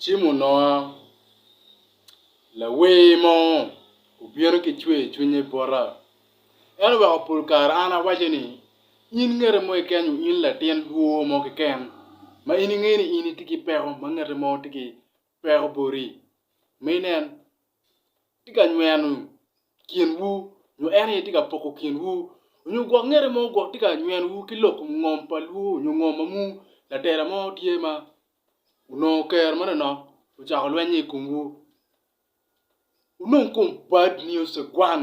Cimo noa, lawer mo obino ki cwercwiny i bota. En oweko pol kare an awaco ni, in ngete mo keken nyo in latin dwor mo keken ma in inge ni in itye ki peko ma ngete mo tye ki twero boti. Ma inen, tye ka nyweno kinwu, nyo en aye tye ka poko kinwu, nyo gwok ngete mo gwok tye ka nywenowu ki lok ngom pa lwu nyo ngom ma muu, latela mo tye ma onongo kero manonok ocako lwennye i komwu. Wunong kom bad nio cegwan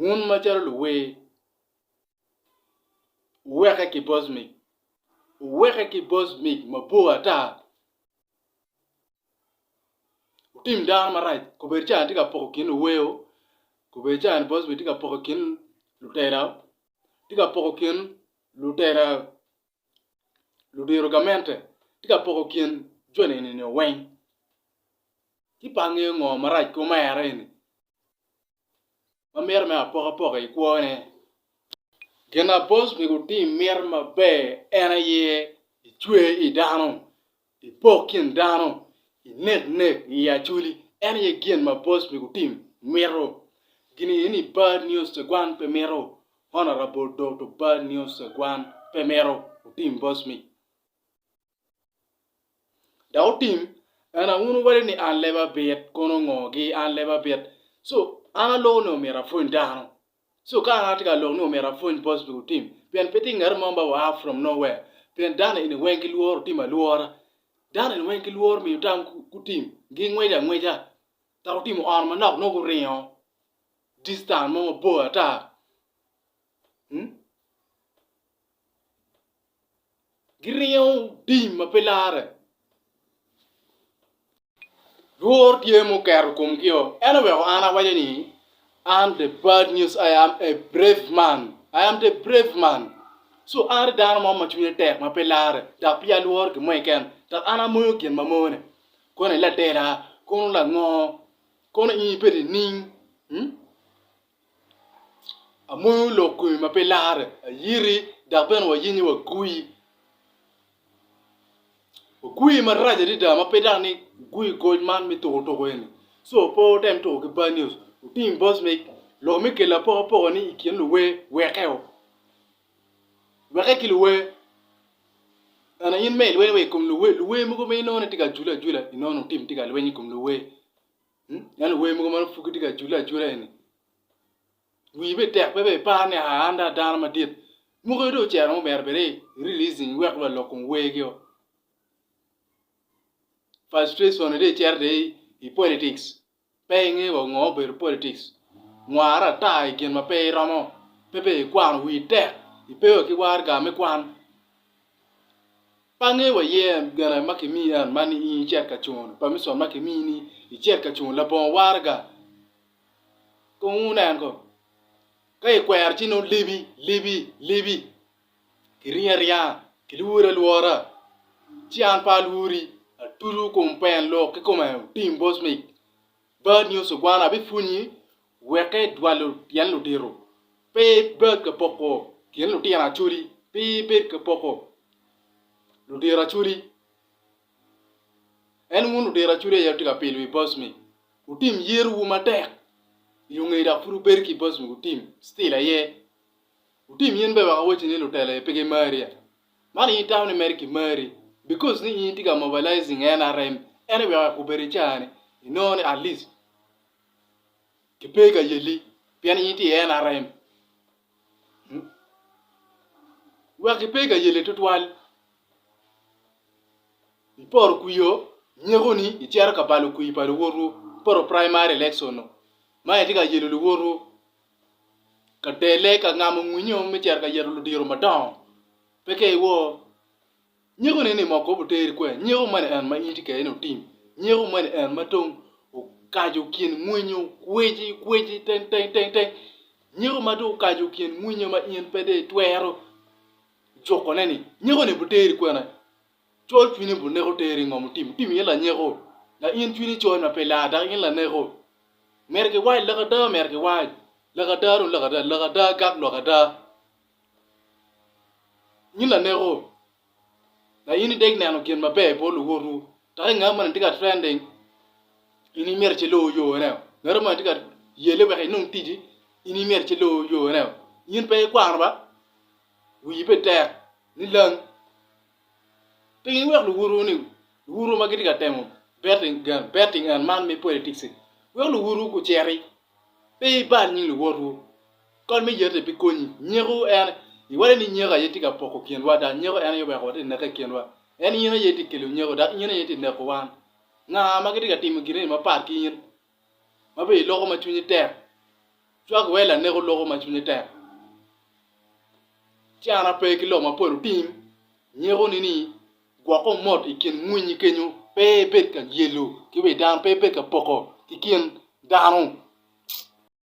Wun macalo luwer, wuweke ki boc mic. Wuweke ki boc mic mabor ata. Wutim dano marac. Kobedo cani tye ka poko kin luwer-ru, kobedo cani boc mic tye ka poko kin lutela, tye ka poko kin lutela ludiro gamente tye ka poko kin jo nino weng ci pe angeyo ngo marac ki omera eni ma mito me apoko apoka i kwo ne gin ma boss myero otim mito maber en aye icwer idano I pok kin dano, i nek nek, i acoli, en aye gin ma boss me gutim mito. Gini ini bad news tegwan pe mito, honorable Doto bad news tegwan pe mito otim boss me. Da otim, en a unu wale ni an leba bit kono ngo gi an leba bit. So an alone omito afweny dano. So kara an atye ka lok ni omyero apwony positive otim pien pe tye ngat mo ma oa from no where pien dano eni weng ki lworo tim alwora dano eni weng ki lworo miyo tam ku tim gi ngweco angweca ka gutimo on manok nongo guringo distance mo mabor ata giringo tim ma pe larre. Lworo tye ma oketo komgio. En oweko an awaco ni, I'm the bad news, I am a brave man, I am the brave man. So an atye dano mo ma cwinye tek ma pe larre dok pe alworo gin mo keken dok an amoyo gin ma mone. Kono ilatela, kono lango, kono in ibedo nining? Amoyo lok kome ma pe larre, ayiti dok bene wayenye wagwi. Wagwi marac adada ma pe dok ni wugwi goc man me tuko tuko eni. Co pe wutem tuko ki bad news, wuting box mic, lok me kelle apokapoka ni i kin luwer weke o. Weke ki luwer, ento in me ilweny wa i kom luwer, luwer mogo ma inongo ni tye ka jule ajula, inongo ni wutim tye ka lweny i kom luwer. Ento wer mogo man pud gitye ka cule acula eni. Wii be tek pe be ipar ni aa an da dano madit. Muke do ocero mo myero bedi releasing iwek wa lok kom wer gi o. Frustration ni do icero de i politics pe inge wa ngo obedo politics. Nwara ata i gin ma pe iromo pe be ikwano wii tek ipe wa ki warga me kwan. Pange wa yen gene ma ki miyi en man in icit ka cun permission ma ki miyi ni icit ka cun labongo waraga kong wu nen ko ka i kwero ci nongo libi libi libi ki ringo aringa ki lwuri alwora ci an pe alwuri atucu kom pen lok ki kome otim bosmic bad nyo cigwana abi pwonyi Weke dwalo tyen ludito, pe bed ka poko kin lutino acoli, pe ibed ka poko ludito acoli. En wun ludito acoli aye atye ka pilo i bocmi, wutim yerowu matek i lunge dok pud wubedo ki i bocmi wutim still aye. Wutim in bene wek awacci ni lutela aye pe gimari ata. Man in itamo ni mere kimari because ni in itye ka mobilizing NRM ene wek wek obed i caa ni inongo ni at least ki pe ka yelli pien in itye i NRM hmm? wek ki pe ka yelli tutwal iporo kwio nyeko ni icero ka balo kwii pa luwotwu iporo primary election no ma itye ka yelo luwotwu ka dele ka ngamo ngwinyo me cito ka yeto ludiro madongo pe ka iwor Nyeko ni ni ma okobo teri kwer, nyeko mani en ma in ti kede ni otim, nyeko mani en ma tong okajo kin mwinyo kweci kweci teng teng teng teng, nyeko ma tong okajo kin mwinyo ma in pe de itwero juko ne ni nyeko ni bu teri kwene, col cwini bu neko teri ngo mutim otim in la nyeko la in cwini col ma pe lar dok in la neko meri ki wac laka ada meri ki wac laka ada dong laka ada laka ada gak lwak ada Nyi laneko, na in ideg neno gin maber i bot luwotwu, dok i ngat moni tye ka trending, in imyero ci luwu yone. Ngat moni tye ka yele wek inong ticci, in imyero ci luwu yone. In pe ikwano ba, wiyi pe tek ni lang. Piny iwek luwotwu-ni, luwotwu ma gitye ka temo betting and man me politics-si, wek luwotwu guciti Pe ibal nying luwotwu. Kot me yete pi konyi. Nyeku en, iwade ni nyeku aye tye ka poko kinwa dok nyeku en aye weko watye ka neke i kinwa. En in aye tye ka kelo nyeku dok in aye tye ka neko wan. Nga ma gitye ka timo gin eni mapat ki in ma bene iloko ma cwinyi tek? Cwak iwe laneko loko ma cwinye tek. Can ape ki lok mapol otim nyekuni ni Gwoko mot i kin winyi kenyo pe bed ka lyelo ki wi dano, pe bed ka poko ki kin dano.